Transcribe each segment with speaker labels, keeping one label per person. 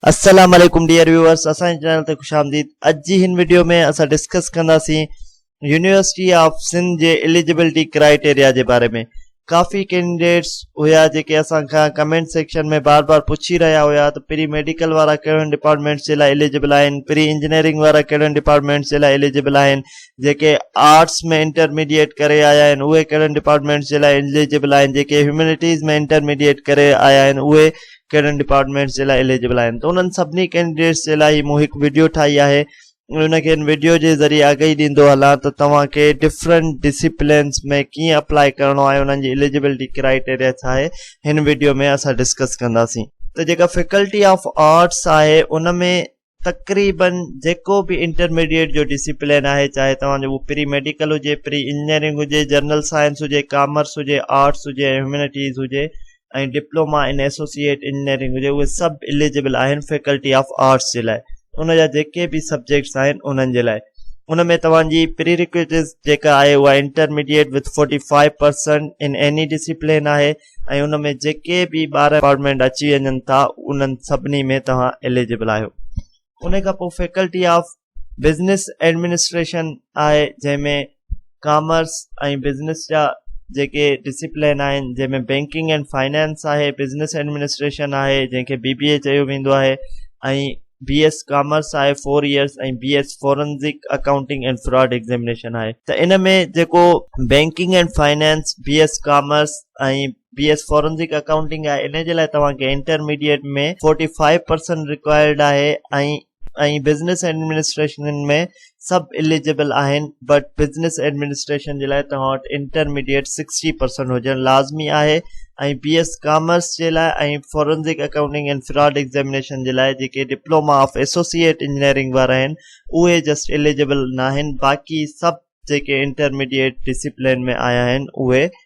Speaker 1: السلام عليڪم dear viewers اسان جي چينل تي خوش آمديد اڄ جي هن وڊيو ۾ اسان ڊسڪس ڪنداسين يونيورسٽي آف سنڌ جي اليجبلٽي ڪرائيٽيريا جي باري ۾ ڪافي ڪينڊيڊيٽس هيا جيڪي اسان کان ڪمينٽ سيڪشن ۾ بار بار پڇي رهيا هيا ته پري ميڊيڪل وارا ڪهڙن ڊپارٽمينٽس جي لاء اليجبل آهن پري انجنيئرنگ وارا ڪهڙن ڊپارٽمينٽس جي لاء اليجبل آهن جيڪي آرٽس ۾ انٽرميڊيئيٽ ڪري آيا آهن اهي ڪهڙن ڊپارٽمينٽس جي لاء اليجبل آهن جيڪي هيومينٽيز ۾ انٽرميڊيئيٽ ڪري آيا آهن اهي ڪهڙن ڊپارٽمينٽس جي لاء اليجبل آهن ته انهن سڀني ڪينڊيڊيٽس جي لاء مون هڪ وڊيو ٺاهي آهي ۽ ان کي ان وڊيو جي ذريعي آگهي ڏيندو هلان ته توهان کي ڊفرنٽ ڊسيپلنس ۾ ڪيئن اپلاء ڪرڻو آهي انهن جي اليجبلٽي ڪرائيٽيريا ڇا آهي هن وڊيو ۾ اسان ڊسڪس ڪنداسين ته جيڪا فيڪلٽي آف آرٽس آهي ان ۾ تقريباً جيڪو به انٽرميڊيئيٽ جو ڊسيپلين آهي چاهي توهان جو اهو پري ميڊيڪل هجي، پري انجنيئرنگ هجي، جنرل سائنس هجي، ڪامرس هجي، آرٽس هجي ۽ هيومينٽيز هجي ۽ ڊپلوما ان ايسوسيئيٽ انجنيئرنگ هجي اهي سڀ اليجبل آهن فيڪلٽي آف آرٽس جي لاء ان جا جيڪي به سبجيڪٽس آهن انهن جي لاء ان ۾ توهان جي پريريڪوئٽس جيڪا آهي اها intermediate with forty five percent in any discipline آهي ۽ ان ۾ جيڪي به ٻار ڊپارٽمينٽ اچي وڃن ٿا انهن سڀني ۾ توهان اليجبل آهيو ان کان پوء فيڪلٽي آف بزنس ايڊمنسٽريشن آهي جنهن ۾ ڪامرس ۽ بزنس جا جيڪي ڊسپلين آهن جنهن ۾ بينڪنگ اينڊ فائنانس آهي بزنس ايڊمنسٽريشن آهي جنهن کي بي بي اي چيو ويندو آهي ۽ بي ايس ڪامرس آهي four years ۽ B S forensic accounting and fraud examination آهي ته ان ۾ جيڪو banking and finance B S commerce ۽ B S forensic accounting آهي ان جي لاء توهان کي intermediate ۾ forty five percent required آهي ۽ ۽ بزنس ايڊمنسٽريشن ۾ سڀ اليجبل آهن بٽ بزنس ايڊمنسٽريشن جي لاء توهان وٽ انٽرميڊيٽ 60% هجڻ لازمي آهي ۽ بي ايس ڪامرس جي لاء ۽ forensic accounting and fraud examination جي لاء جيڪي ڊپلوما آف ايسوسيئيٽ انجنيئرنگ وارا آهن اهي جسٽ اليجبل ناهن باقي سڀ جيڪي انٽرميڊيٽ ڊسيپلين ۾ آيا آهن اهي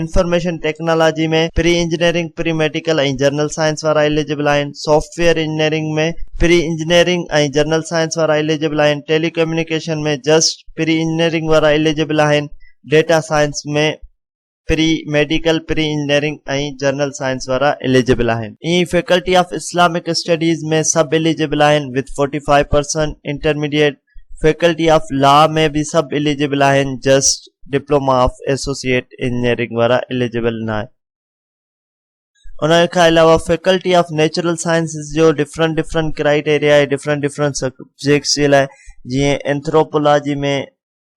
Speaker 1: information technology ۾ pre engineering pre medical ۽ general science وارا اليجبل آهن software engineering ۾ pre engineering ۽ general science وارا اليجبل آهن telecommunication ۾ just pre engineering وارا اليجبل آهن data science ۾ pre medical pre engineering ۽ general science وارا eligible آهن ائين ئي فيڪلٽي آف اسلامڪ اسٽڊيز ۾ سڀ اليجبل آهن with forty five percent intermediate faculty of law ۾ به سڀ اليجبل آهن just diploma of associate engineering وارا اليجبل ناهن ان کان علاوه فيڪلٽي آف نيچرل سائنسز جو ڊفرنٽ ڊفرنٽ ڪرائيٽيريا آهي ڊفرنٽ ڊفرنٽ سبجيڪٽس جي لاء جيئن اينٿروپولاجي ۾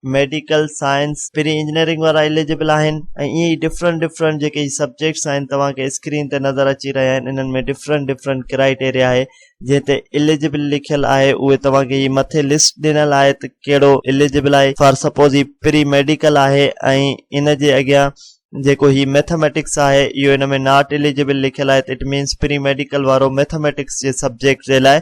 Speaker 1: ميڊيڪل سائنس پھرين انجنيئرنگ وارا اليجبل آهن ۽ ائين ڊفرنٽ ڊفرنٽ جيڪي سبجيڪٽس آهن توهان کي اسڪرين تي نظر اچي رهيا آهن انهن ۾ ڊفرنٽ ڊفرنٽ ڪرائيٽيريا آهي جنهن تي اليجبل لکيل آهي اهي توهان کي هي مٿي لسٽ ڏنل آهي ته ڪهڙو اليجبل آهي فار سپوز هي پري ميڊيڪل آهي ۽ ان جي اڳيان جيڪو هي ميٿميٽڪس آهي اهو ان ۾ ناٽ اليجبل لکيل آهي ته اٽ مينس پري ميڊيڪل وارو ميٿميٽڪس جي سبجيڪٽ جي لاء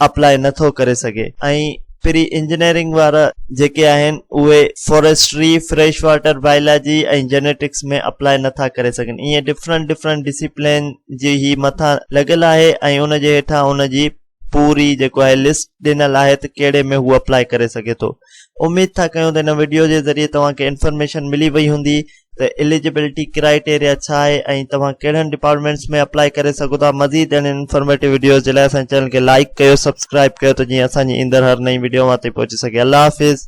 Speaker 1: اپلائي نٿو ڪري سگهي ۽ پري انجنيئرنگ وارا جيڪي آهن اهي forestry, fresh water biology ۽ genetics ۾ apply نه ٿا ڪري سگهن ائين ڊفرنٽ ڊفرنٽ ڊسيپلين جي هي مٿان لڳل آهي ۽ ان جي هيٺان ان جي پوري جيڪو آهي لسٽ ڏنل آهي ته ڪهڙي ۾ هو اپلاء ڪري سگهي ٿو اميد ٿا ڪيون ته ان وڊيو جي ذريعي توهان کي انفارميشن ملي وئي هوندي ته اليجبلٽي ڪرائيٽيريا ڇا آهي ۽ توهان ڪهڙن ڊپارٽمينٽس ۾ اپلائي ڪري سگهو ٿا مزيد اهڙين انفارميٽو وڊيوز جي لاء اسان جي چينل کي لائڪ ڪيو سبسڪرائب ڪيو ته جيئن اسان جي ايندڙ هر نئين وڊيو اوهان تائين پهچي سگهي الله حافظ